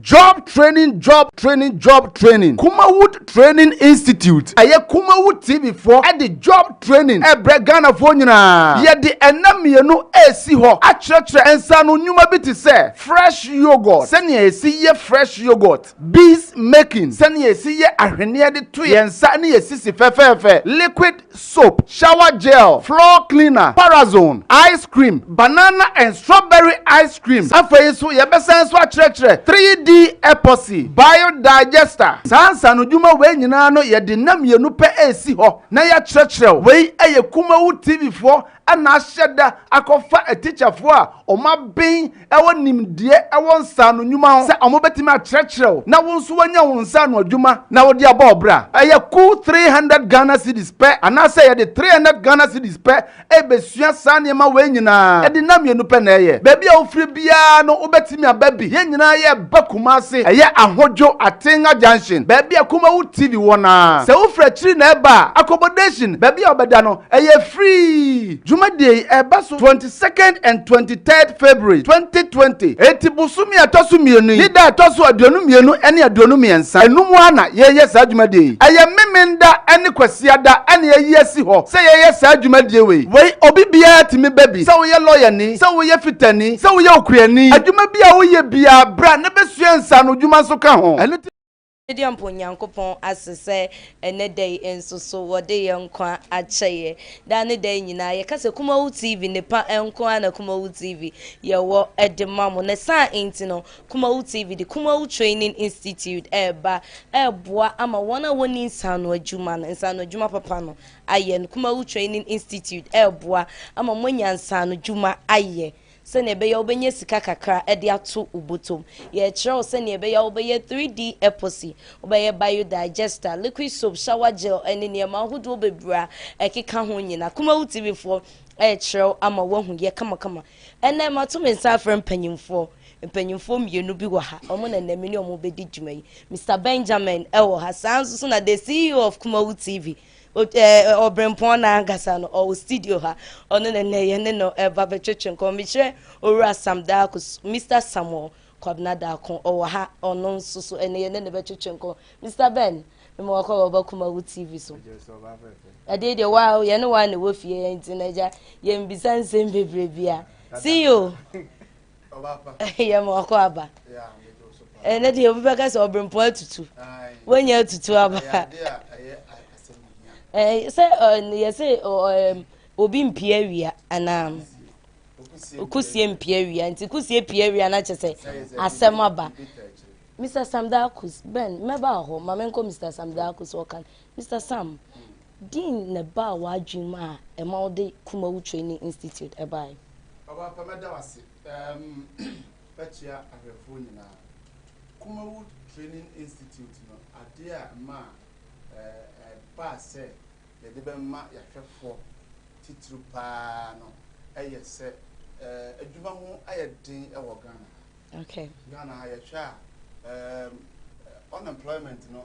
Job Training Job Training Job Training Kumawood Training Institute ɛyɛ Kumawood TV foɔ ɛde job training ɛbrɛ Ghanafoɔ nyinaa yɛde ɛnna mmienu ɛresi hɔ akyerɛkyerɛ nsaano nnwuma bi te sɛ fresh yoghurt sɛnea yɛsi yɛ fresh yoghurt bees making sɛnea yɛsi yɛ ahweneɛ de to yɛn nsa ne yɛn sisi fɛfɛɛfɛ liquid soap, shower gel, floor cleaner, parazone, ice cream, banana and strawberry ice cream. Afei nso, yɛbɛsan nso akyerɛkyerɛ 3D epoxy, biodigester. Saa nsaanodwuma wei nyinaa no, yɛde nna mmienu pɛ resi hɔ na yɛakyerɛkyerɛ wo. Wei yɛ Kumawu TV foɔ na ahyɛ da akɔfa atikyafoɔ a wɔaben wɔ nimdeɛ wɔ nsaano nnwuma ho sɛ wɔbɛtumi akyerɛkyerɛ wo na wo nso woanya wo nsaano adwuma na wode abɔ wo bra. Ɛyɛ kuw three hundred Ghana cedis pɛ anaasɛ yɛde three hundred Ghana cedis pɛ rebɛsua saa nneɛma wei nyinaa. Ɛde nna mmienu pɛ na ɛyɛ. Baabi a wofiri biara no wobɛtumi aba bi. Yɛn nyinaa yɛreba Kumasi. Ɛyɛ Ahodwo, Atenga junction, baabi a Kumawu TV wɔ no ara. Sɛ wofiri akyiri na ɛreba a, accommodation, baabi a wobɛda no, Ɛyɛ free! Dwumadie yi ɛba so twenty second and twenty third February twenty twenty. Enti bosome a ɛtɔ so mmienu yi ne da a ɛtɔ so aduonu mmienu ne aduonu mmiɛnsa. Ɛno mu ara na yɛyɛ saa dwumadie yi. Ɛyɛ Memenda ne Kwasiada na yɛayi asi hɔ sɛ yɛyɛ saa dwumadie wei. Wei obi biara tumi ba bi, sɛ woyɛ lɔyani, sɛ woyɛ fitani, sɛ woyɛ okuani, adwuma bi a woyɛ biara bra na bɛsua nsaanodwuma nso ka ho. Ɛno nti. Sɛdeɛ mpo Onyankopɔn ase sɛ ɛnnɛ da yi nso so wɔde yɛn nkwa akyɛ yɛn daa ne daa nyinaa. Yɛka sɛ Kumawu TV nnepa nko ara na Kumawu TV yɛwɔ de ma mo. Ne saa nti no, Kumawu TV de Kumawu Training Institute ɛreba ɛreboa ama wɔn a wɔnni nsaano adwuma no, nsaano adwuma papa no ayɛ no. Kumawu Training Institute ɛreboa ama moanya nsaano dwuma ayɛ. Sɛnea ɛbɛyɛ a wobɛnya sika kakra de ato wo bɔtɔ mu. Yɛrekyerɛ wo sɛnea ɛbɛyɛ a wobɛyɛ 3D epoxy, wobɛyɛ biodigester, liquid soap, shower gel, ne nneɛma ahodoɔ bebree a ɛkeka ho nyinaa. Kumawu TV foɔ rekyerɛ wo ama woahu yɛ kamakama. Ɛnnɛ mato me nsa afrɛ mpanyimfoɔ. Mpanyimfoɔ mmienu bi wɔ ha, wɔn na ɛnnɛ me ne wɔn bɛdi dwuma yi. Mister Benjamin wɔ ha, saa nso so na the CEO of Kumawu TV. ɔbrempɔn no ankasa no ɔwɔ studio ha ɔno na nnɛ yɛne no ɛba bɛtwetwe nkɔmmɔ mekyerɛ owura sam daako mr samuel kwabena daako ɔwɔ ha ɔno nso so ɛne yɛne no bɛtwetwe nkɔmmɔ mr ben mema wakɔ wɔba kuma wo tv so ɛdeɛ deɛ wa yɛne wa ne wɔ fie nti na agya yɛmbisa nsɛm bebree bia see you yɛ ma ɔkɔ aba ɛnɛ deɛ obi bɛka sɛ ɔbrempɔ atutu woanya atutu aba sɛ yɛ sɛ obi mpie awia anaa kusie mpie awia nti kusie pie awia na kyɛ sɛ asɛm aba mr sam dakus ben mɛba hɔ ma menkɔ mr sam dakus ɔkan mr sam Dean na ɛbaa w'adwene mu a ɛma wode Kumawu Training Institute baeɛ? Ɔbɔapa mɛda wo ase. Ɛɛm, mɛkyea ahwɛfoɔ nyinaa. Kumawu Training Institute no, adeɛ a ɛmaa ɛbaa sɛ yɛde bɛma yɛahwɛfoɔ titiriw pa ara no yɛ sɛ adwuma ho ayɛ den wɔ Ghana ha. Ghana ha yɛhwɛ a, ɛɛm, unemployment no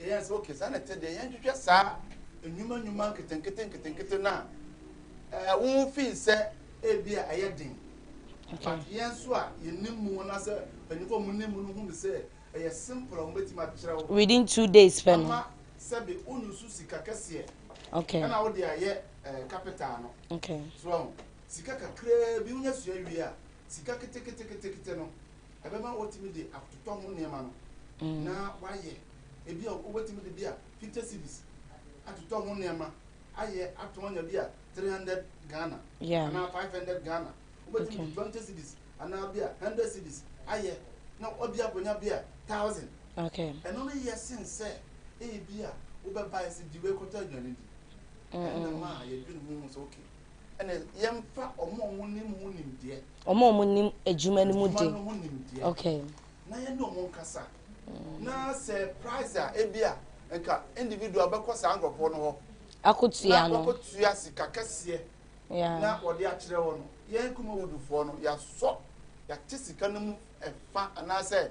Yɛyɛɛ sɛ, ok, saa na ɛte deɛ, yɛnhwehwɛ saa nnwuma nnwuma nketenkete nketenkete no a ɛwo ho fi sɛ ebi a ɛyɛ den. But yɛn nso a yɛnim mu anaasɛ mpanyinfoɔ a wɔnim mu no hu no sɛ ɛyɛ simple a wɔbɛtumi akyerɛ wo. Within two days pɛ no. Ama sɛbi wonusu sika kɛseɛ. Okay. Ɛna wode ayɛ ɛɛ capital no. Okay. So sika kakraa bi wonya sua wie a sika keteketekete no. ɛbɛma watumi de atotɔ ho nneɛma no na wayɛ. Ebi a wobɛtumi de bi a fifty cedis atotɔ ho nneɛma ayɛ atɔn nya bi a three hundred Ghana anaa five hundred Ghana. Wobɛtumi de twenty cedis anaa bi a hundred cedis ayɛ na ebi akɔnya bi a thousand. Ɛno no yɛ sen sɛ ebi a wobɛbae sɛ di wei kɔtɔ aduane di. Ɛnna maa yɛdwen ho hu sɛ okay. Ɛnna yɛmfa wɔn a wɔnim ho nimdeɛ. Wɔn a wɔnim adwuma no mu de. Adwuma no ho nimdeɛ. Okay. Na yɛne wɔn nkasa. Na sɛ price a ebi a nka individual bɛkɔ saa nkurɔfoɔ no hɔ. Akotua no. Na wɔkɔtua sika kɛseɛ. Yeah. Na wɔde akyerɛ wɔn no. Yɛn Kumawoodfoɔ no, yɛasɔ yɛate sika no mu ɛfa anaasɛ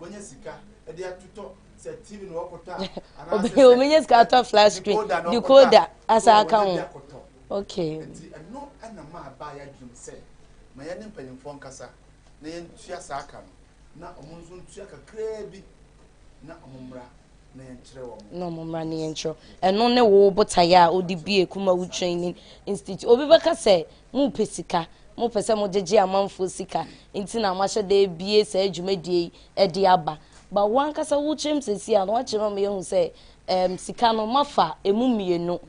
Obenya sika atɔ flat screen, decoder asa aka ho. Okay. Nti ɛno ɛna maa baa yɛ adwene mu sɛ ma yɛne mpanyinfoɔ nkasa na yɛntua saa ka no na wɔn nso ntua kakraa bi na wɔn mmra na yɛnkyerɛ wɔn. Na wɔn mmra na yɛnkyerɛ. Ɛno ne wo botaeɛ a wode bie Kumawu Training Institute. Obi bɛka sɛ Mopɛ sika, mopɛ sɛ mogyegye amanfoɔ sika nti na moahyɛ da abue saa dwumadie yi de aba. But wo ankasa wo tirim seesei a na woakyerɛ ma yɛahu sɛ ɛɛm sika no moafa ɛmu mmienu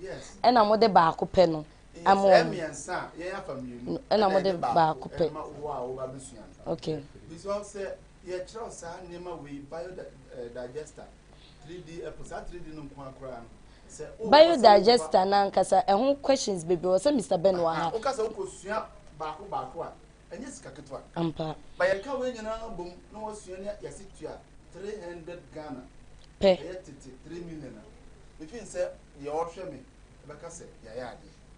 ɛna mode baako pɛ no ama wɔn. Yes, ɛyɛ mmiɛnsa a yɛn afa mmienu ɛna mode baako pɛ ɛma wo a woba abɛsua no. Okay. Because sɛ yɛkyerɛw saa nneɛma wei bio da ɛɛ digester Biodigester no ankasa, ɛho questions bebree wɔ sɛ Mister Ben wɔ ha. Ampa. Pɛ.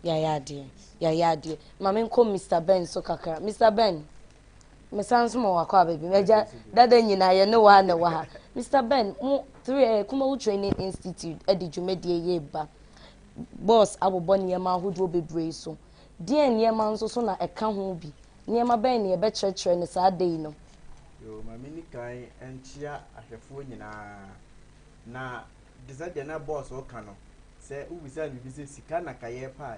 Yayɛ adeɛ. Yayɛ adeɛ. Ma me nkɔ Mister Ben so kakra. Mister Ben. mesan nso ma wakɔ aba bi m'agya dada nyinaa yɛ ne waa na ɛwɔ ha mr ben mo three eh, kumawu training institute eh, de dwumadie yɛ ba bɔs abobɔ nneɛma ahodoɔ bebree so deɛ nneɛma nso so na ɛka ho bi nneɛma bɛn na yɛbɛkyerɛkyerɛ no saa da yi no yo maame ni kan nkyia ahwɛfoɔ nyinaa na de sɛ deɛ na bɔs ɔka no sɛ wobisa no biribi sɛ sika na kayɛ paa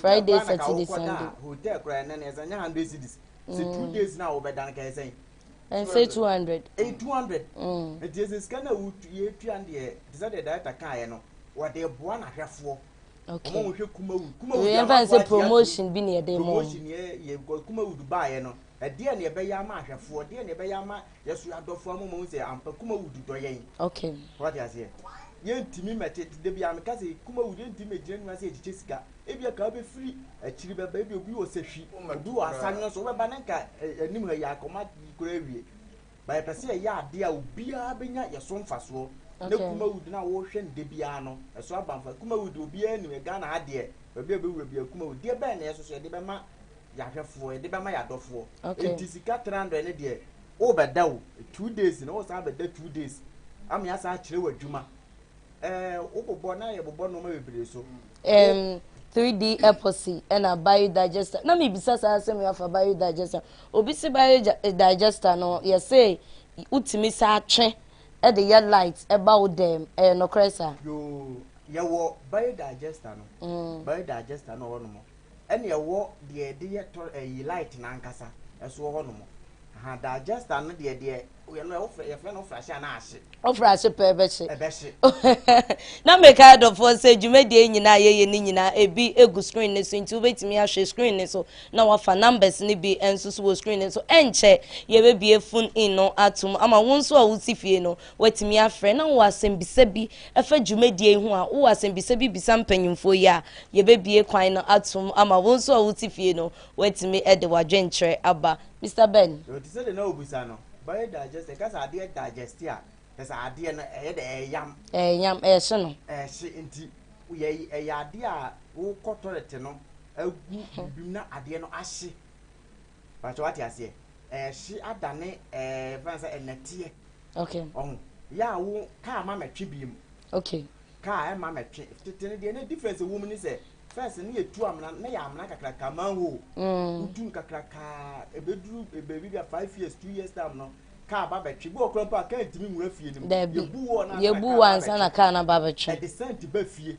Friday, Saturday, Sunday. Mm. Ɛnsɛ two hundred. Ɛyɛ two hundred. Mm. Nti ɛsɛ sika na yɛtua no deɛ te sɛ deɛ director kaeɛ no wɔde boa n'ahwɛfoɔ. Okay. Wɔn hwɛ kumawu. Kumawu yɛn fa nsɛ promotion bi na yɛde mo. Promotion yɛ yɛ kumawu baeɛ no Ɛdeɛn na yɛbɛyɛ ama ahwɛfoɔ? Deɛn na yɛbɛyɛ ama yɛn soro adɔfoɔ ama wɔahu sɛ ampa Kumawudu dɔ yɛn? Okay. Wate aseɛ? Yɛntumi mmɛte, da biara meka sɛ Kumawudu, yɛntumi mmɛgyina ne ho ase yɛkyekyɛ sika. Ebia ka wobɛfiri akyiri bɛba, ebia obi wɔ sahwi, obi wɔ asaneɛ so, wobɛba na nka anim ha yi akɔma koraa awie. But yɛpɛ sɛ yɛyɛ adeɛ a obiara bɛnya yɛ so mfasoɔ na Kumawood no a wohwɛ no da biara no ɛso aba mfa Kumawood deɛ obiara nim yɛ Ghana ha deɛ baabi a wobɛwura biara Kumawood deɛ bɛn na yɛ soso yɛde bɛma yɛ ahwɛfoɔ yɛde bɛma yɛ adɔfoɔ enti sika 300 no deɛ wobɛda o two days na wosan abɛda two days ama yɛasan akyerɛ w'adwuma wobobɔ na yɛbobɔ nneɛma bebree so. Um, 3D epoxy ɛna biodigester. Na mebisa saa asɛm yi afa biodigester. Obi se biodigester no yɛse wotumi sa atwe ɛde yɛ light ɛba wo dɛm. Ɛyɛ nokorɛ saa? Yoo, yɛwɔ biodigester no. Mm. Biodigester no wɔ nom. Ɛna ɛwɔ deɛ yɛde yɛ tɔ ɛyi light no ankasa ɛsoɔ hɔ nom ahaa digester no deɛ deɛ yɛ no ɛwɔ yɛfrɛ no ɔfra hye anaa ahye. Ɔfra ahye pɛ ɛbɛhye. Ɛbɛhye. Na meka adɔfoɔ sɛ dwumadie nyinaa a yɛyɛ no nyinaa ebi egu screen no so nti wobɛtumi ahwɛ screen no so na wafa numbers no bi nso so wɔ screen no so ɛnkyɛ yɛbɛbue phone in no atom ama wo nso a wote fie no Woatumi afrɛ na wowɔ asɛmbisa bi fa dwumadie yi ho a, wowɔ asɛmbisa bi bisa mpanyimfoɔ yi a, yɛbɛbue kwan no atom ama wo nso a wote fie no woatumi de w'adwenkyerɛ aba. Mister Ben. Yo, te sɛ deɛ na wobisa no, bɛyɛ digest, ɛka sɛ adeɛ digest a, kyerɛ sɛ adeɛ no ɛyɛ dɛ, ɛyam. Ɛyam, ɛhye no. Ɛhye, nti yɛ, ɛyɛ adeɛ a wokɔ toilet no agu biribi mu na adeɛ no ahye. Pakyɛ wate aseɛ ɛhye adane ɛɛ fɛn sɛ ɛnɛteɛ. Okay. Ɔho yɛ a wo kaa ma mɛtwe bie mu. Okay. Kaa ɛma mɛtwe tete ne deɛ ne difference ɛwɔ mu ne sɛ fɛs ne yɛ tu amena ne yɛ amena kakraka manhole. Mm. Wotu no kakraka ɛbɛduru baabi bi a five years two years time no kaa ba bɛtwe bi ɔkora mpo a kaa ntumi nwura fie no mu. Dabi. Yɛbu wɔ na kaa ba bɛtwe. Yɛbu wɔ ansa na kaa na ba bɛtwe. Ɛde sɛnti ba fie.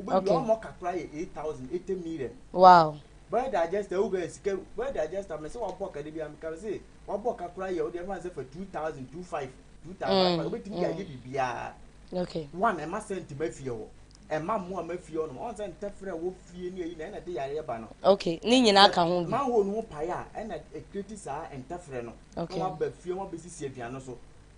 Okay. Ọmọ kakra yɛ eight thousand eighty million. Wow. Bɛrɛ digester ewu bɛyɛ sika bɛrɛ digester mɛ sɛ wabɔ kade bi a meka sɛ wabɔ kakra yɛ ɔde ɛfa sɛ fa two thousand two five two thousand five obetumi de ayɛ biribiara. Okay. One ɛma sɛ ntoma fie hɔ ɛma mmoa ma fie hɔ nom ɔn sɛ ntɛfrɛ wɔ fie ne ayi na ɛna de yareɛ ba no. Okay ne nyinaa ka ho bi. Manhole no ho pae a ɛna ekireti saa ntɛfrɛ no. Okay. Na waba fie wabɛsisi aduane so.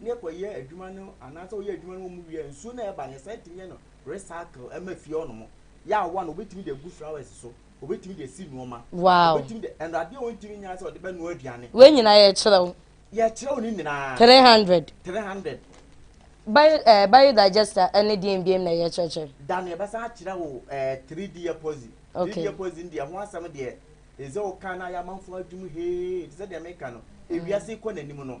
ne ɛkɔyɛ adwuma no anaasɛ ɔyɛ adwuma no wɔ mu wie nsuo no a ɛba no yɛsan tumi yɛ no recycle ɛma fie hɔ nom yɛ awa no obɛtumi de agu flowers so obɛtumi de asi nneɛma wow obɛtumi de ɛno adeɛ a ɔntumi nyɛ sɛ ɔde bɛnoa aduane wei nyinaa yɛkyerɛ wo yɛkyerɛ wo ne nyinaa 300 300 bio ɛɛ eh, bio digester ɛne deɛ mbiem na yɛkyerɛkyerɛ da no yɛbɛsan akyerɛ wo ɛɛ eh, 3d epoxy 3d epoxy deɛ ho asɛm deɛ ɛsɛ wo kan na ayɛ amanfoɔ adwuma hee te sɛ deɛ meka no ewiase kɔ n'anim no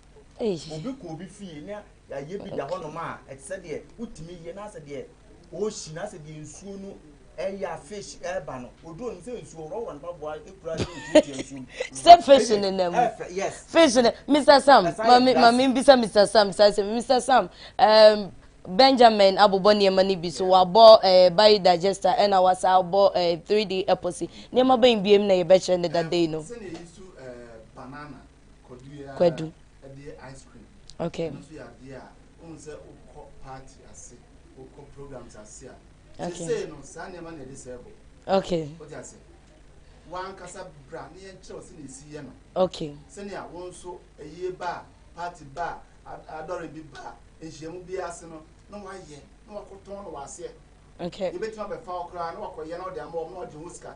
sɛ fish ne nam fish ne mr sam maame maame bisa mr sam saa sɛ mr sam um, benjamin abobɔ nneɛma no bi so wabɔ eh, biodigester ɛna wasa abɔ eh, 3d epoxy nneɛma bɛn biem na yɛbɛkyerɛ ne dadei no banana Kwadu. Okay. Okay. Okay. wankasa bra ne yɛn kyerɛw sɛ na esi yɛ no. okay. sɛnea wɔn nso ɛyie ba party ba adɔre bi ba nhyiamu bi ase no na wayɛ na wakɔtɔn no waseɛ. okay. yɛbɛtumi abɛfa wo koraa na wakɔyɛ na ɔde ama wɔn na ɔgye ho sika.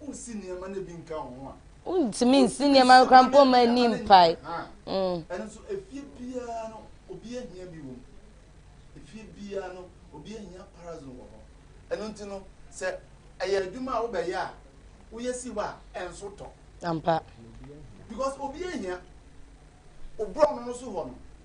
Wonsi nneɛma no bi nka wo ho a. Wontumi nsi nneɛma no koraa mpo mma nni mpae. Ɛno nso, efie biara no, obi ahia bi wom. Efie biara no, obi ahia parazon wɔ hɔ. Ɛno nti no, sɛ ɛyɛ adwuma a wobɛyɛ a, woyɛ si hɔ a, ɛnso tɔ. Ampa. Because obi ahia. Wo borɔno no so hɔ no,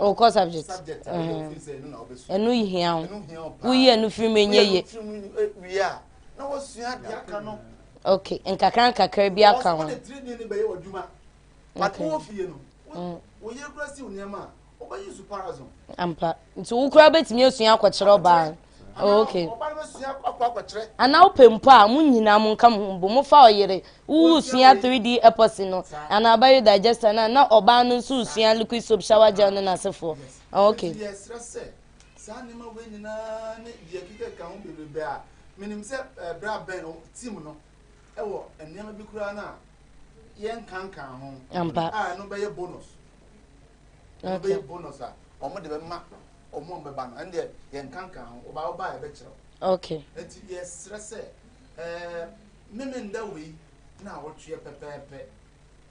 o kɔ subject ɛnu hia o woyi ɛnu firi mu enye ye ok nkakra nkakra bi aka ho okay. ampa nti wo koraa bɛtumi asua akɔkyerɛ ɔbaa Oh, okay. And now pempa mo nyina mo nka mo bo mo fa oyere wo sua 3D epoxy no and na bio digester na na oba no so sua liquid soap shower gel no na sefo. Oh, okay. saa nneɛma wei nyinaa ne deɛ kika ka ho bebrebe a menim sɛ eh, berɛ a bɛn tim no ɛwɔ nneɛma bi koraa no a yɛnkankan ho a ɛno bɛyɛ bonus wɔn okay. bɛyɛ bonus a wɔn de bɛma wɔn a bɛba no ɛn deɛ yɛn nkankan ho ɔba ɔba a yɛbɛkyerɛw okay eti yɛsrɛ sɛ ɛɛ mímí nda wei na awɔtweɛ pɛpɛɛpɛ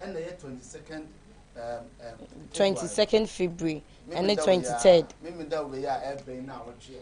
ɛna ɛyɛ twenty second ɛɛm ɛɛm twenty second february ɛne twenty third mímí nda wei a ɛbɛn na awɔtweɛ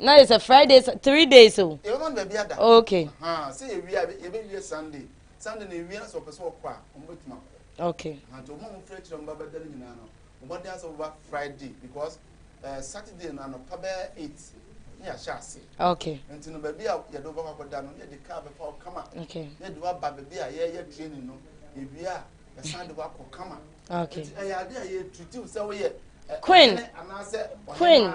na yɛ sɛ friday three days o. yɛbɛ ma no baabi ada. okay. haa sɛ yɛ wia yɛbɛ wie sunday sunday na ewia sɛ ɔpɛ sɛ ɔkɔ a ɔmo bɛ tuma kɔ. okay. haa nti ɔmo a ɔmo fira kyerɛ ɔmo ba bɛ da ne nyinaa no ɔmo adan sɛ ɔmo ba friday because ɛɛ eh, saturday no anɔpa bɛyɛ eight ne yɛ ahyɛ ase. okay. nti no baabi a yɛde ɔbɛkɔ akɔda no yɛde kaa bɛfa ɔkama. okay. yɛde wa ba baabi a yɛyɛ training no ewia yɛsan de wa kɔ kama. okay. nti ɛyɛ ade a yɛ tutu sɛ woyɛ. queen queen.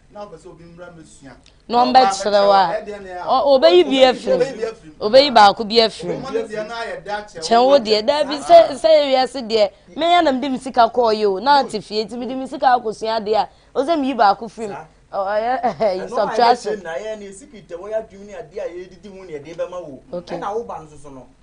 na ɔmbɛkyerɛ wo a ɔbɛyi bi afiri mu ɔbɛyi baako bi afiri mu kyɛn wo deɛ daabi sɛ sɛ wiase deɛ meyɛ na mede me sika kɔɔ yɛ o na ate fie nti mede me sika akɔsua adeɛ a ɔsɛ meyi baako firi mu ɔyɛ ɛyi subtraction. ɛna ayɛ ne sikiriti a wɔyɛ adwuma ne adeɛ a yɛdidi ho ne ɛde bɛma wo ɛna woba no soso no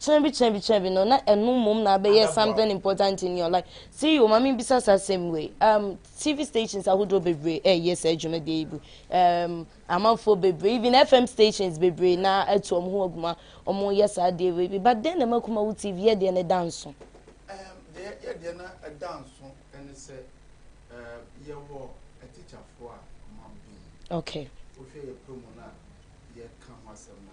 Kyena bi kyena bi kyena bi no na ɛno mmom na abɛyɛ something important in your life. CEO ma me bisa saa asɛm wei. Um, TV stations ahodoɔ bebree ɛyɛ saa dwumadie yi bi. Um, amanfoɔ bebree, even FM stations bebree na atu wɔn ho aguma wɔn yɛ saa adeɛ wei bi. But dɛn na ɛma Kumawu TV yɛ deɛ ne da nso? Um, deɛ yɛ deɛ na ɛda nso ɛne sɛ um, yɛwɔ atikyafoɔ a wɔn abɛn. Okay. Wohwɛ yɛ promo no a yɛka ho asɛm no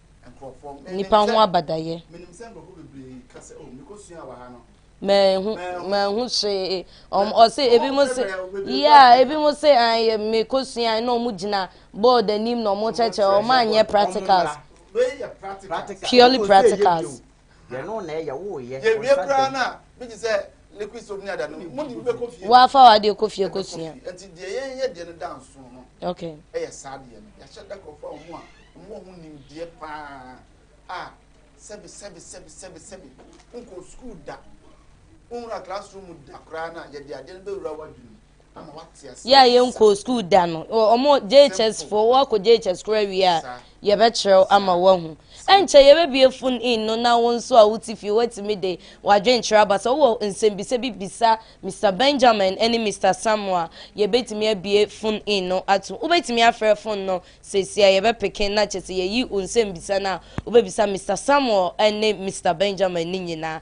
nnipa ho abadayɛ. Mɛhu mɛhu hwee wɔn ɔse ebi mo se yia ebi mo se ayɛ mɛkɔ sua na wɔn gyina board anim na wɔn kyɛkyɛ wɔn anyɛ practicals purely practicals. Yɛno na ɛyɛ wo yɛ. Yɛwie koraa no a bi te sɛ liquid soap ne ada no mu ne bi bɛkɔ fie. Woafa w'adeɛ kɔ fie kɔ sua. Nti deɛ yɛn yɛ deɛ no da nson no ɛyɛ saa deɛ no yɛahyɛ da nkorɔfoɔ a wɔn a wɔn wɔ ho nimdeɛ paa a sɛbi sɛbi sɛbi sɛbi sɛbi wonkɔ sukuu da wonwura classroom da koraa no a yɛde adeɛ no bɛwura w'adwene mu. yɛ a yɛnkɔɔ skuul da no ɔmo JHS foɔ woakɔ JHS koraa wie a yɛbɛkyerɛw ama woahu ɛnkyɛ yɛbɛbie fon in no na wo nso a wote fie woatumi de w'adwenkyerɛ aba sɛ wowɔ nsɛmbisa bi bisa Mr Benjamin ne Mr Samuel a yɛbɛtumi abie fon in no ato wobɛtumi afrɛ fon no seesia yɛbɛpeke na kyɛ sɛ yɛyi wo nsɛmbisa no a wobɛbisa Mr Samuel ne Mr Benjamin ne nyinaa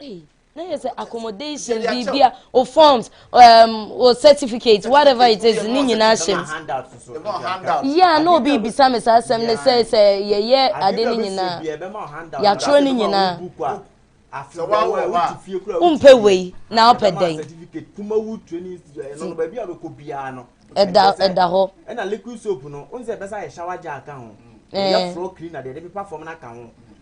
Hey, say accommodation, bibia, or forms, um, or certificates, whatever it is, ni nyina hyem. Yeah, no be bisa me sa asem ne say say ye ye ade ni nyina. Ya tro ni nyina. Umpe wei na opɛ dɛn. Ɛda ɛda hɔ. Ɛna liquid soap no, onse ɛbɛsa yɛ shower gel ka ho. Yɛ floor cleaner de ɛde pepa fam na ka ho.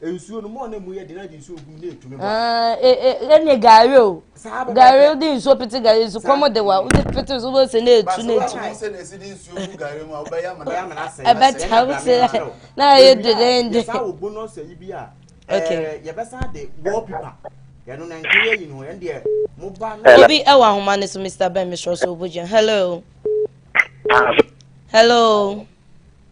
nsuo no mɔɔ na emu yɛ de na de nsuo gu na etumi bɔ. ɛne gari o gari wode nsuo pete gari so kɔm de wa wode pete so wobɛsɛ na etu na etu ɛbɛta wo sɛ na ɛyɛ dedende yɛbɛsan de wallpaper yɛno na nka yɛ yi no yɛn deɛ mo ba no obi ɛwɔ ahoma ne so mr ben mesrɛ so wobɔgyina hello hello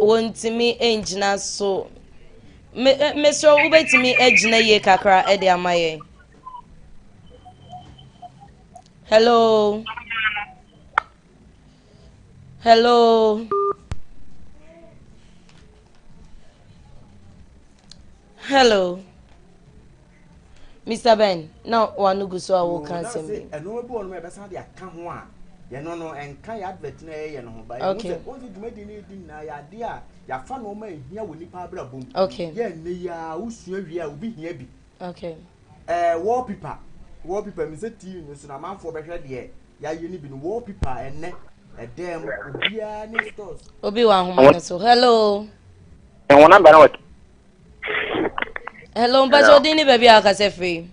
Wɔntumi ngyina so. Me mesrɛ wo wobɛtumi agyina yie kakra de ama yɛn. Hello. Hello. Hello. Mister Ben, na w'ano gu so a woreka asɛm bi. Nase nnoɔma bi wɔ hɔ nom a yɛbɛsan de aka ho a yɛno no ɛnka yɛ advert no a yɛyɛ no ho but yɛhu sɛ wohu sɛ dwumadi no yɛdi nyinaa yɛ adeɛ a yɛafa nnoɔma a ɛhia wɔ nnipa abrabɔ mu yɛ ɛnnɛ yi ara wosua wie a obi hia bi ɛɛ wallpaper wallpaper menim sɛ TV no so no amanfoɔ bɛhwɛ deɛ yɛayɛ no bi no wallpaper ɛnnɛ ɛdan mu obiara ne stores obi wɔ ahoma no so hello ɛwɔ namba no wɔ Hello, mpatsɛ Hello. ɔdin ne baabi a ɔkasa firi.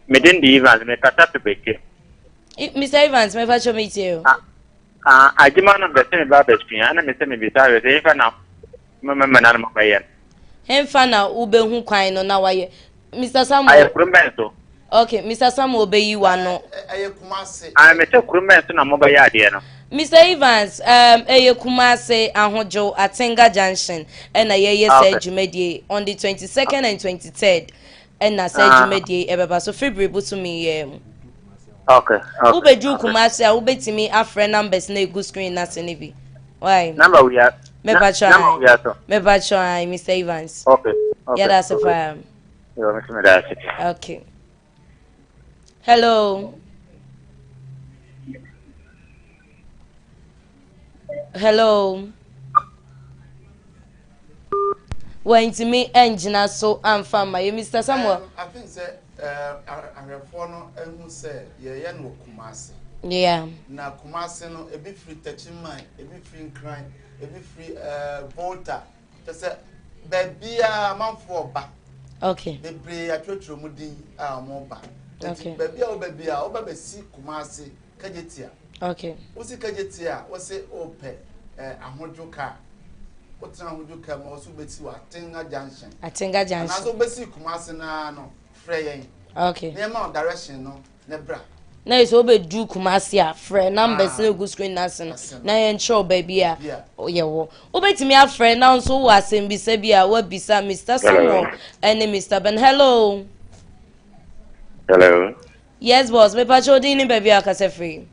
Mede ndi Evans, me kasa fi bɛkye. I- Mr. Evans, mɛfa kyɛ me tie o. Ah, adwuma no bɛsɛ me ba bɛsua, ɛna mesɛ mebisa awɛ sɛ yɛmfa na mama mmana no mabɛyɛ no. Hemfa na wobɛhu kwan no na wayɛ. Mr. Samuel, Ayɛ kurom bɛn so? Okay, Mr. Samuel bɛyi wa no. Ɛyɛ Kumase. Ah, me sɛ kurom bɛn so na mobɛyɛ adeɛ no. Mr. Evans, um, ɛyɛ Kumase Ahojo Atenga Junction ɛna yɛyɛ ah, sɛ dwumadie on the 22nd and 23rd ɛna sɛ ah. dwumadie ɛbɛba so February bosomi yɛ mu. Okay. okay. Wobɛduru Kumase a wobɛtumi afrɛ numbers na egu screen na se ne bi. Why? Number we are. Mepa try. Mepa try, Mr. Evans. Okay. okay. Yɛda ase paa. Yo, me tumi da ase. Okay. Hello. Hello. wantumi angyina so amfa mma yɛ mr samuel afei sɛ ahwɛfoɔ no ahu sɛ yɛyɛ no kuma ase yeah na kuma ase no ebi firi tɛkyiman ebi firi nkran ebi firi volta Kyɛ sɛ baabiara amanfoɔ ba. Okay. Bebree atwerɛtwerɛ mu din a wɔn ba. Okay. Baabi a wɔba bi a wɔba bɛsi Kumasi kagyetia. Okay. Wosi kagyetia a wɔsi wɔpɛ ɛɛ ahodwo kaa. Wotena ahodwo kaa mu a wɔsi bɛsi wɔ Atenga junction. Atenga junction. Anaasɛ wɔbɛsi Kumasi naa no frɛ yɛn. Okay. Nneɛma direction no. na bra. na yɛ sɛ wobɛduru kumase a frɛ numbers no gu screen no ase no na yɛnkyerɛ wo baabi a yɛwɔ wobɛtumi afrɛ nanso wɔ asɛmbisa bi a woabisa mr samuel ɛne mr ben hello hello yes boss mepakyɛ wodin ne baabi a akasa firi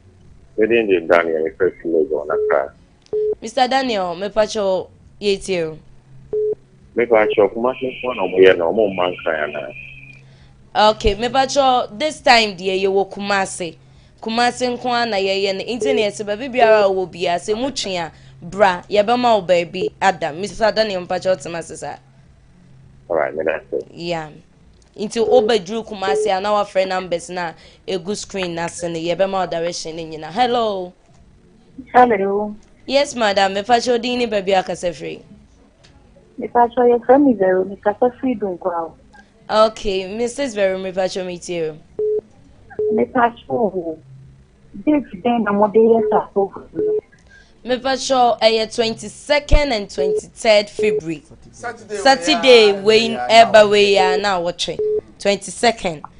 wodin de daniel mefrɛ fi lagos na kra Mister Daniel, mepakyɛ wo, yɛtie wo. Mepakyɛ wo, Kumasi nko na ɔmo yɛ no, ɔmo mma nkran anaa? Ok, mepakyɛ wo, this time deɛ yɛ wɔ Kumasi, Kumasi nko na yɛ yɛ no, nti na yɛ se baabi biara a ɔwɔ biara sɛ mu twe a, bra, yɛ bɛ ma wo baabi ada. Mister Daniel, mepakyɛ wo tema se saa. Alright, me da se. Yeah. nti wobɛduru kumase a na wafrɛ numbers no a ɛgu screen no ase no yɛbɛma wo direction no nyina hello Hello. Yes madam, mepakyɛ wo din ne baabi a akasa firi. Mepakyɛ yɛfrɛ me Vero, mekasa firi Dunkwa o. Okay, Mrs. Vero mepakyɛ metie o. Mepakyɛ o, date dɛn na mode yɛ saa program no? Mepakyɛ ɛyɛ 22nd and 23rd February. Saturday wei ɛba wei a na awɔtwe 22nd.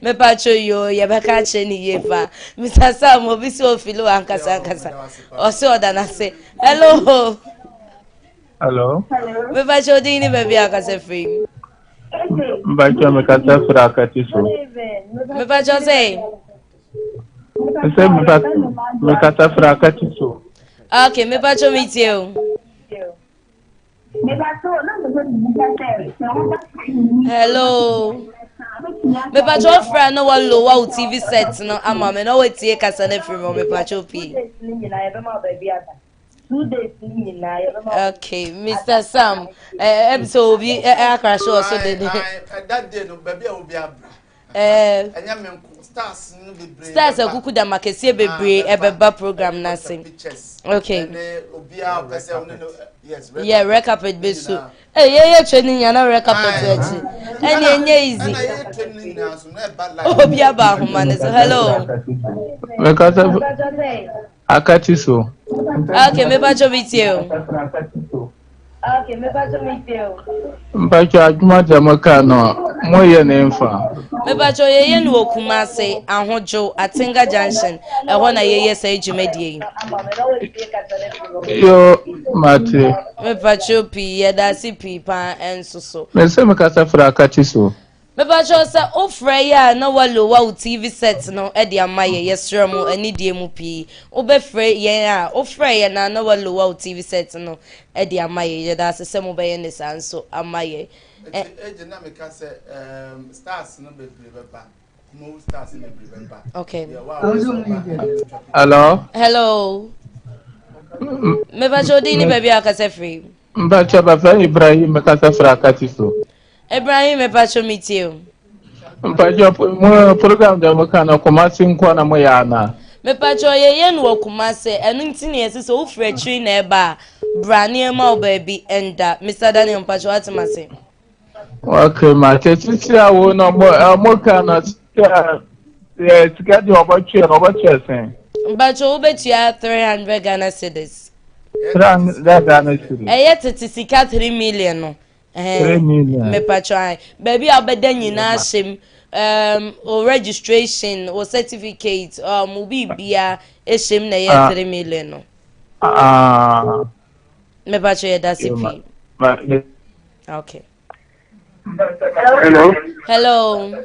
Mepacho yoo yɛbɛka akyerɛ ne yie paa Mr Sam obi sɛ ofili wɔ ankasa ankasa ɔse ɔda n'ase hello hello mepacho odin ne baabi ankasa firi mu mepacho mekasa firi akati so mepacho sɛ sɛ mekasa firi akati so ok mepacho metie o hello mepatwa wofrɛ na walowa wo tv set no ama me na woatie kasa no afiri mu mepatwa pii okay mr sam ɛm sɛ obi akra so ɔso dede stars akuku dam akɛseɛ bebree ɛbɛba program no ase okay yɛ red carpet bɛsu yɛyɛ training nyana red carpet akyi ɛne ɛnyɛ easy obi aba ahoma no so hello Akati so. Okay, me ba jo metie o. Okay, me ba jo metie o. Mpacho adwuma de mo ka no, mo yɛ ne mfa. Me ba jo ye ye no okuma se ahojo Atenga Junction. Eho na ye ye sa adwumadie yi. Yo mate. Me pacho pi ye da se pi pa enso so. Me se me kasa fra Akati so. Mepa kyɛw sɛ wo frɛ yɛ a na w'alo wa wo TV set no de ama yɛ yɛ srɛ mo anidie mu pii wo bɛ frɛ yɛn a wo frɛ yɛn a na w'alo wa wo TV set no de ama yɛ yɛ da ase sɛ mo bɛ yɛ ne saa nso ama yɛ ɛ. Eti agye na me ka sɛ ehm stars no bebree bɛ ba kuma wo stars no bebree bɛ ba okay yɛ wa wo nso ba ɛna me twa papa. Hello. Hello. Mepa kyɛw din ne baabi a kasa firi. Mepa kyɛw bɛfrɛ Ibrahim me kasa firi akati so. Ibrahim mepacho me tie o. Mpacho mo program da mo kana Kumasi nko na mo ya ana. Mepacho ye ye no wɔ Kumasi ɛno nti ne yɛse sɛ wofiri akyiri na ɛba a bra ne yɛma wo baabi ɛnda Mister Daniel mpacho wate mase. Okay mate sisi a wo no mo mo kana sika sika di ɔbɛtwe no ɔbɛtwe sɛn. Mpacho wobɛtua 300 Ghana cedis. 300 Ghana cedis. Ɛyɛ tete sika 3 million no. Ɛɛɛ mepakyɛw ae baabi a wobɛda nyinaa hyɛ mu um, wo registration wo certificate um, wo biribia ɛhyɛ mu na ɛyɛ ah. three million no ah. mepakyɛw yɛda se pii okay hello hello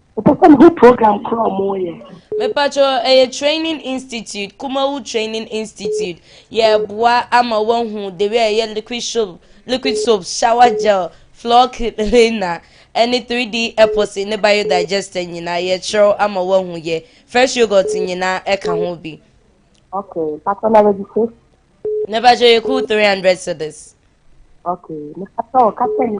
Mepɛ sɛ mehu program korɔ a wɔyɛ. Mepacho ɛyɛ training institute kumawu training institute yɛ boa ama wahu the way ɛyɛ liquid soap liquid soap shower gel floor cleaner ɛne 3D epoxy ne biodigester nyinaa yɛ kyerɛw ama wahu yɛ fresh yogurt nyinaa ɛka ho bi. Okay, pacho na registration. Mepacho yɛ cool 300 cedis. Okay, mepacho ɔka sɛ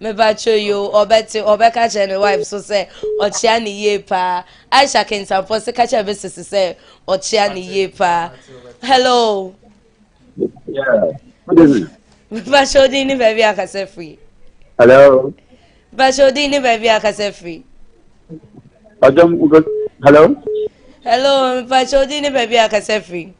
Mebakyɛ yoo ɔbɛte ɔbɛka kyerɛ ne wife so sɛ ɔkyea ne yie paa. Aisha kentanfoɔ se ka kyerɛ me sisi sɛ ɔkyea ne yie paa. Hello. Mebakyɛ odin ne baabi akasa firi. Hello. Mebakyɛ odin ne baabi akasa firi. Ɔdɔm hello. Hello mebakyɛ odin ne baabi akasa firi.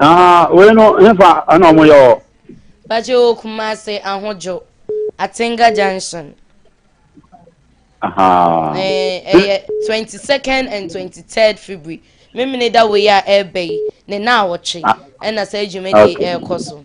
Ah, wei no hefa ɛna ɔmo yɛ wɔ. Bàjẹ́ o Kumasi Ahojo Atenga junction. Ɛyɛ eh, twenty second and twenty third February memene da wei a ɛreba yi ne na awɔtwe ɛna saa dwumadi ɛrekɔ so.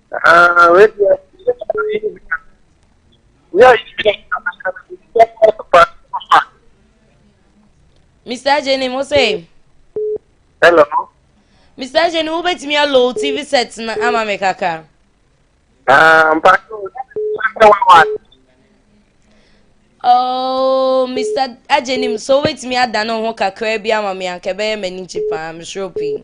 Mr. Jenny mo se. Hello. Mr. Jenny wo betumi alo TV set na ama me kaka. Ah, mpa. Oh, Mr. Ajenim, so wait me ada no ho kakra bi ama me anka bɛyɛ m'ani gye paa, mesoro pii.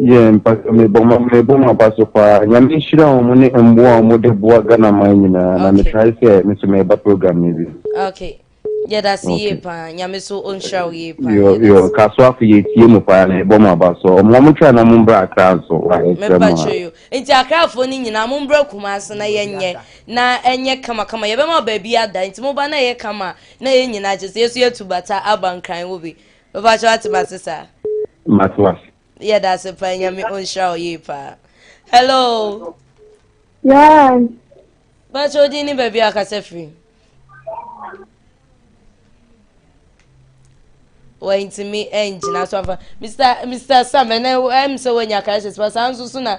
Yeah, mpacho me boma me boma paso pa. Nyame nhyira wɔn mo ne mboa wɔn de boa Ghana man nyinaa. Na me try sɛ me so me ba program ni bi. Okay. Yeah, that's okay. yie pa. Nyame so o nhyira wo yie pa. Yo yo kaso afo ye tie mu pa na ebo ma ba so. Wɔn wɔn try na mo mbra akra nso. Wa ɛsɛ mo. Me pacho yo. Nti akra afo ni nyinaa mo mbra kuma ase na ye nye na enye kama kama. Ye be ma ba bi ada. Nti mo ba na ye kama na ye nyinaa kyese ye so ye tu bata abankran wo bi. Bɛba kyɛ wate mase saa. Mate wase. Yɛ da ase paa nyame ɔnhyira wo yie paa. Hello. Yes. Bɛkyɛ odin ne baabi a ɔkasa firi. wɔntumi ngyina so afa mr mr sam ɛnɛ ɛm sɛ wɔnya crisis pa saa nso so na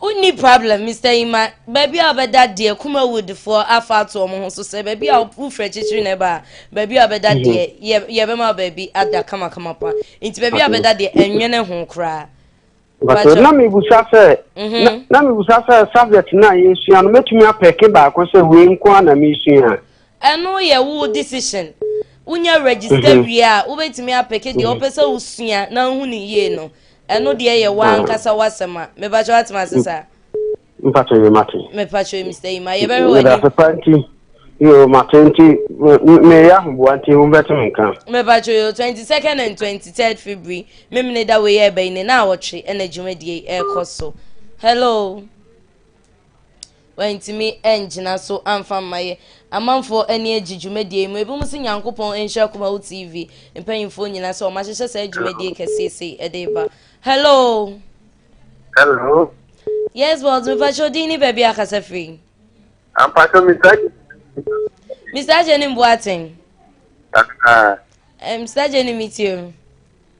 Wonni problem Mister Yima, baabi a wobɛda deɛ Kumawood foɔ afa ato wɔn ho so sɛ baabi a wo frɛ kyikyiri na ɛba a baabi a wobɛda mhm. deɛ yɛ yɛbɛma wo baabi ada kamakama pa nti baabi a wobɛda deɛ ɛnwene ho koraa. Bàtò na mi busa sɛ mhm. na mi busa sɛ subject na yɛ sua no mɛtumi apɛke baako sɛ wei nko a na mi sua. Ɛno yɛ wo decision wonya register mhm. wie a wobɛtumi apɛke deɛ wopɛ sɛ wosua na wohu ne yie no. Ɛno deɛ yɛ wo ankasa w'asɛm a. Mepakyɛ w'ate m'ase saa? Mpakyɛ yɛ mate. Mepakyɛ Mr. Yima yɛ bɛhwɛ w'anim. Yɛda papa nti yo mate nti meyɛ ahoboa nti wo bɛte me nka. Mepakyɛ yo 22nd and 23rd February memene da wei ɛbɛyi ne na awɔtwe ɛna dwumadie ɛkɔ so. Hello. Wɔantumi angyina so amfa amma yɛ. Amanfoɔ ani agye dwumadie yi mu. Ebinom se Nyankopɔn nhyira Akumawo TV mpanyinfoɔ nyinaa sɛ wɔahyehyɛ saa dwumadie kɛseɛ sei ɛde ba. Hello. Hello. Yes, boss. Mepakyɛ odin ne baabi akasa firi. Ampakyɛ Mr. Mr. Agye ne mboaten. Aha. Mr. Agye ne metie o.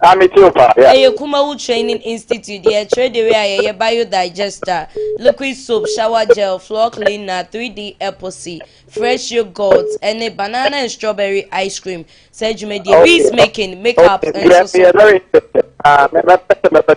Ah, me too pa, yeah. Ɛyɛ Kumawu Training Institute deɛ ɛkyerɛ dewei a yɛyɛ Biodigester, Liquid Soap, Shower Gel, Floor Cleaner, 3D Epoxy, Fresh Yoghurt, ɛne Banana and Strawberry Ice Cream, saa dwumadie, Beads Making, Make Up nso so. Ɛyɛ very interesting, ah, mɛ, mɛ, mɛ, mɛ, mɛ.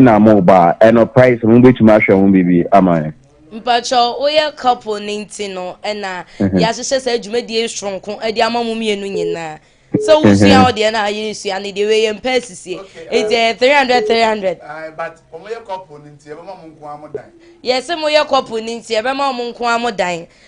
na mo ba a ɛno price mo betumi ahwɛ ho biribi ama yɛn. Mpakyɛ woyɛ couple ne nti no ɛna mhm. yɛahyehyɛ saa dwumadie soronko de ama mo mmienu nyinaa sɛ wosua wo deɛ na ayere sua ne deɛ wei yɛmpɛ asisie ɛti ɛyɛ 300 300 yɛse moyɛ couple ne nti ɛbɛma ɔmo nko a mo dan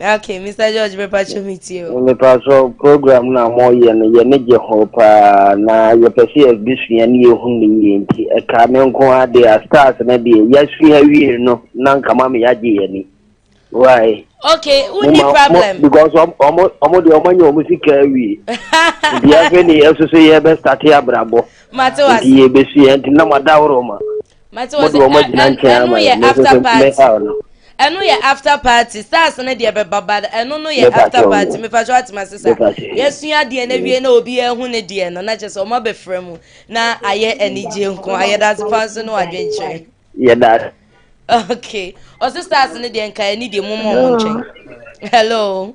Okay, Mr. George, me pacho me tio. Me pacho program na mo ye no ye ne je ho pa na ye pese ye bi sua ne ye hu ne ye nti e ka me nko ade a stars na de ya sua wie no na nka ma me ya je ye ni. Why? Okay, who ni problem? Because omo omo de omo nya omo sika wie. Nti afi ni eso so ye be start abrabo. Mate wase. Nti ye be sua nti na ma da oro ma. mate wɔn sɛ ɛno yɛ after party ɛno yɛ after party stars no deɛ bɛba ba ɛno no yɛ after party mefa so atema se sa yɛasua deɛ no awie na obi ahu ne deɛ no na kyɛ sɛ ɔma bɛfrɛ mu na ayɛ anigye nko ayɛdase pa nso ne wadwenkyerɛ yɛda okay ɔse stars no deɛ nka ɛne deɛ momɔ mo nkyɛn hello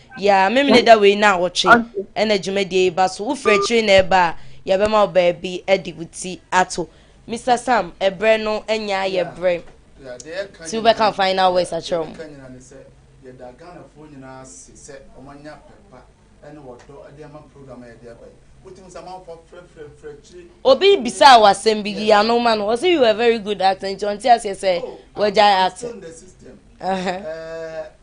Yeah, Memene da wei naawɔtwe Okay. na dwumadie yi ba so. Wofiri akyire na ɛba a, yɛbɛma wo baabi de wo ti ato. Mister Sam, ɛberɛ no anya ayɛ Yeah, berɛ yeah, deɛ yɛka nti nyinaa wobɛka no, final words yeah, deɛ akyerɛ wɔn. yɛka nyinaa ne sɛ yɛda Ghanafoɔ nyinaa ase sɛ wɔanya pɛ pa ne ɔdɔ de ama program a yɛde aba yi. Wotumi sɛ amanfoɔ afrɛfrɛfrɛ akyire Obi ne bisaa wɔ asɛm bi, yeah. yiano ma no. Ɔse you are a very good actor nti ɔnte aseɛ sɛ Oh, I'm, wagyae I'm acting. still in the system. Uh-huh. Eh,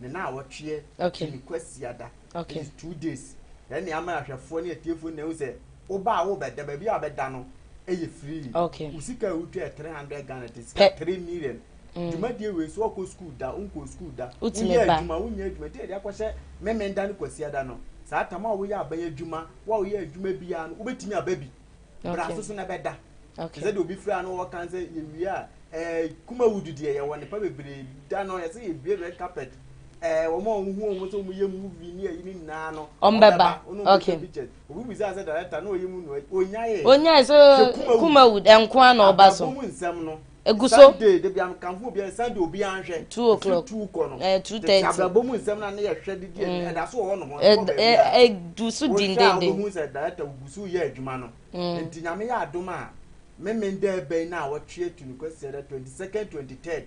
ne naawɔtweɛ okay. ne kwasiada okay. ɛyɛ two days ɛne ne ama ahwɛfoɔ ne atiefoɔ na ɛhu sɛ woba a wobɛda baabi a wobɛda no ɛyɛ free okay. wo sika a wotwa yɛ 300 ghana te sika 3 million mm. dwumadie wei so ɔkɔ school da wonkɔ school da woyɛ adwuma wonyɛ adwuma nti ɛde akɔhyɛ memenda ne kwasiada no saa tam a woyɛ aban adwuma wo a woyɛ adwuma biara no wobɛtumi aba bi bra okay. soso na ɛbɛda okay. sɛ deɛ obi fira no wɔka sɛ yɛwie a eh, kuma wudu deɛ yɛwɔ nipa bebree da no yɛsɛ yɛbie red carpet eh, wɔn a wɔhu wɔn sɛ wɔyɛ movie ne ayi ne nyinaa no ɔmbɛba okay obi bisa sɛ director na ɔyɛ mu no ɔnyaeɛ ɔnyaeɛ sɛ kuma wud nkoa na ɔba so nsɛm no egu so. Sunday de bi a nka ho obiara Sunday obiara nhwɛ. Two o'clock ɛfiri two kɔ no. Ɛɛ eh, two thirty. Tete abrabɔ mu nsɛm na ne yɛ hwɛ didi ɛdi mm. ɛda so wɔ hɔ nom. Ɛda ɛdu so dindindin. Wohwɛ a wobɛhu sɛ director ogu so yɛ adwuma no. Mm. Nti nyame yɛ adom a memen dɛ ɛbɛn no a wɔtwe atu no kwasiɛ dɛ twenty second twenty third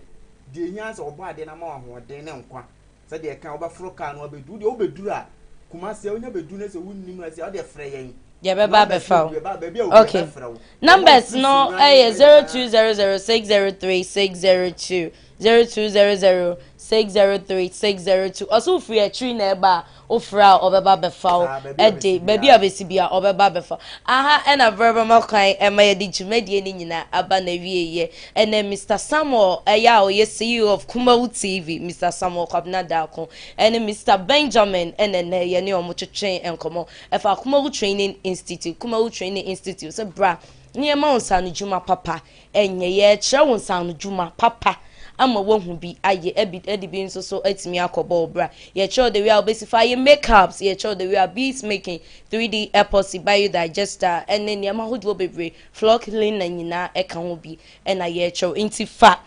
deɛ ehia sɛ ɔbɔ adeɛ na ama wɔn ahoɔden ne nkwa. Sɛdeɛ ɛka wobɛforo kaa no abɛdu wodeɛ wobɛduru a Kumasi a wonya bɛdu no sɛ wonni mu ɛsɛ wodeɛ frɛ yɛn deɛ bɛba abɛfa wo baabi a wopɛ okay. bɛfrɛ wo numbers no ɛyɛ 0200603602 0200603602 ɔsɛ wofiri akyiri na ɛba a wofrɛ a ɔbɛba abɛfa wo ɛde baabi a bɛsi bia ɔbɛba abɛfa aha ɛna brɛ bɛma kwan ɛma yɛde dwumadie no nyinaa aba na wieɛ Ɛnɛ Mister Samuel Ɛyɛ a ɔyɛ CEO of Kumawu TV, Mister Samuel Kwabena Darko ɛne Mister Benjamin ɛna ɛnɛ yɛne wɔn twetwe nkɔmmɔ ɛfa Kumawu Training Institute, Kumawu Training Institute sɛ bra na yɛma wo nsaanodwuma papa ɛnyɛ, yɛrekyerɛ wo nsaanodwuma papa ama woahu bi ayɛ ɛbi ɛde bi nso so atumi akɔbɔ wo bra. Yɛkyerɛ wo the way a wobɛsi fa ayɛ makeups, yɛkyerɛ wo the way a beads making, 3D epoxy, biodigester ɛne nneɛma ahodoɔ bebree Flock Lena nyinaa ka ho bi na yɛrekyerɛw nti fa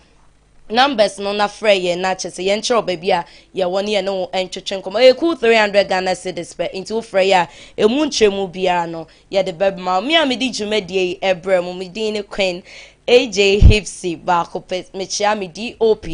numbers no na frɛ yɛn na kyɛ sɛ yɛn kyerɛw baabi a yɛwɔ na yɛne wo ntwetwe nkɔmmɔ ɛyɛ cool 300 Ghana cedis pɛ nti wo frɛ yɛ a ɛmu nkyerɛmu biara no yɛde bɛma wo me a medi dwumadie yi ɛbrɛ mu me din ne Queen AJ Hipsy baako pɛ mekyea me DOP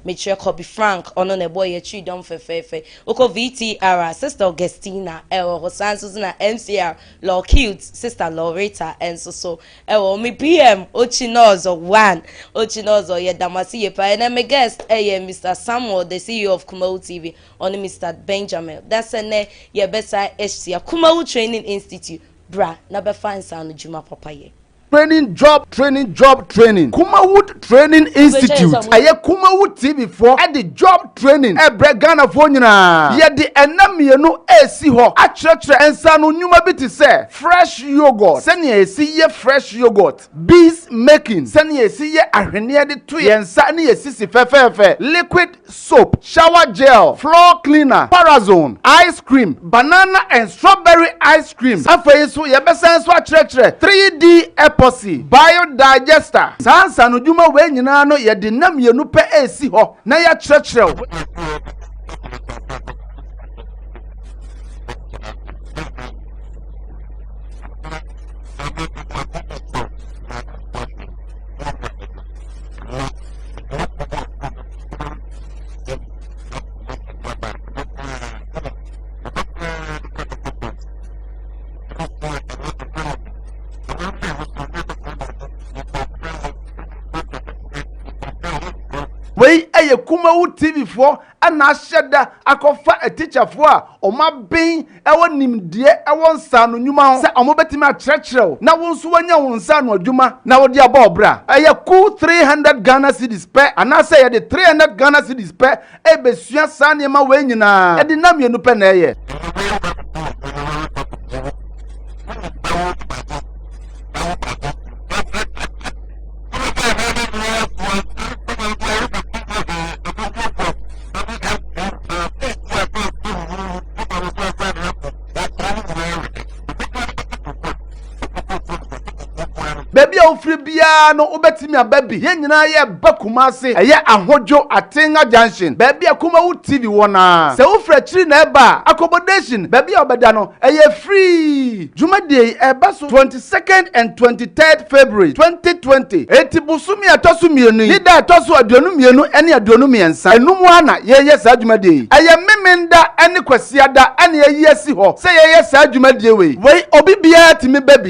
mekyerɛ Kobe Frank ɔno na ɛbɔ yɛ twi dɔm fɛfɛɛfɛ wokɔ VTR a Sister Augustina ɛwɔ hɔ saa nso na MCR Lorquet sista Loretta nso so wɔ me PM Ochinozo one Ochinozo yɛdamase yie paa ɛnɛ me guest yɛ Mister Samuel the CEO of Kumawu TV ɔne Mister Benjamin da sɛ nɛ yɛbɛsan ahyia Kumawu Training Institute bra na bɛfa nsaano dwuma papa yɛ. Training Job Training Job Training Kumawood Training Institute ɛyɛ Kumawood TV foɔ ɛde job training ɛbrɛ Ghanafoɔ nyinaa yɛde ɛnna mmienu ɛresi hɔ akyerɛkyerɛ nsaano nnwuma bi te sɛ fresh yoghurt sɛnea yɛsi yɛ fresh yoghurt beads making sɛnea yɛsi yɛ ahweneɛ de to yɛn nsa ne yɛn sisi fɛfɛɛfɛ liquid soap, shower gel, floor cleaner, parazone, ice cream, banana and strawberry ice cream. Afei nso, yɛbɛsan nso akyerɛkyerɛ 3D epoxy, biodigester. Saa nsaanodwuma wei nyinaa no, yɛde nna mmienu pɛ resi hɔ na yɛakyerɛkyerɛ wo. ɛyɛ kumawu tv foɔ ɛna ahyɛ da akɔfa atikyafoɔ a wɔn aben wɔ nimdeɛ wɔ nsaano nnwuma ho sɛ wɔbɛtumi akyerɛkyerɛ wo na wo nso woanya wo nsaano adwuma na wode abɔ wo bra. Ɛyɛ kuw three hundred Ghana cedis pɛ anaasɛ yɛde three hundred Ghana cedis pɛ rebɛsua saa nneɛma wei nyinaa, ɛde nna mmienu pɛ na ɛyɛ. baabi a wofiri biara no wobɛtumi aba bi yɛn nyinaa yɛ ba kuma ase ɛyɛ ahodwo atenga junction baabi a kuma wo tv wɔ na sɛ wofiri akyiri na ɛba a accommodation baabi a wɔbɛda no ɛyɛ free Dwumadie yi ɛba so twenty second and twenty third February twenty twenty. Enti bosome a ɛtɔ so mmienu yi ne da a ɛtɔ so aduonu mmienu ne aduonu mmiɛnsa ɛno mu ara na yɛyɛ saa dwumadie yi. Ɛyɛ Memenda ne Kwasiada na yɛayi asi hɔ sɛ yɛyɛ saa dwumadie wei. Wei obi biara tumi ba bi.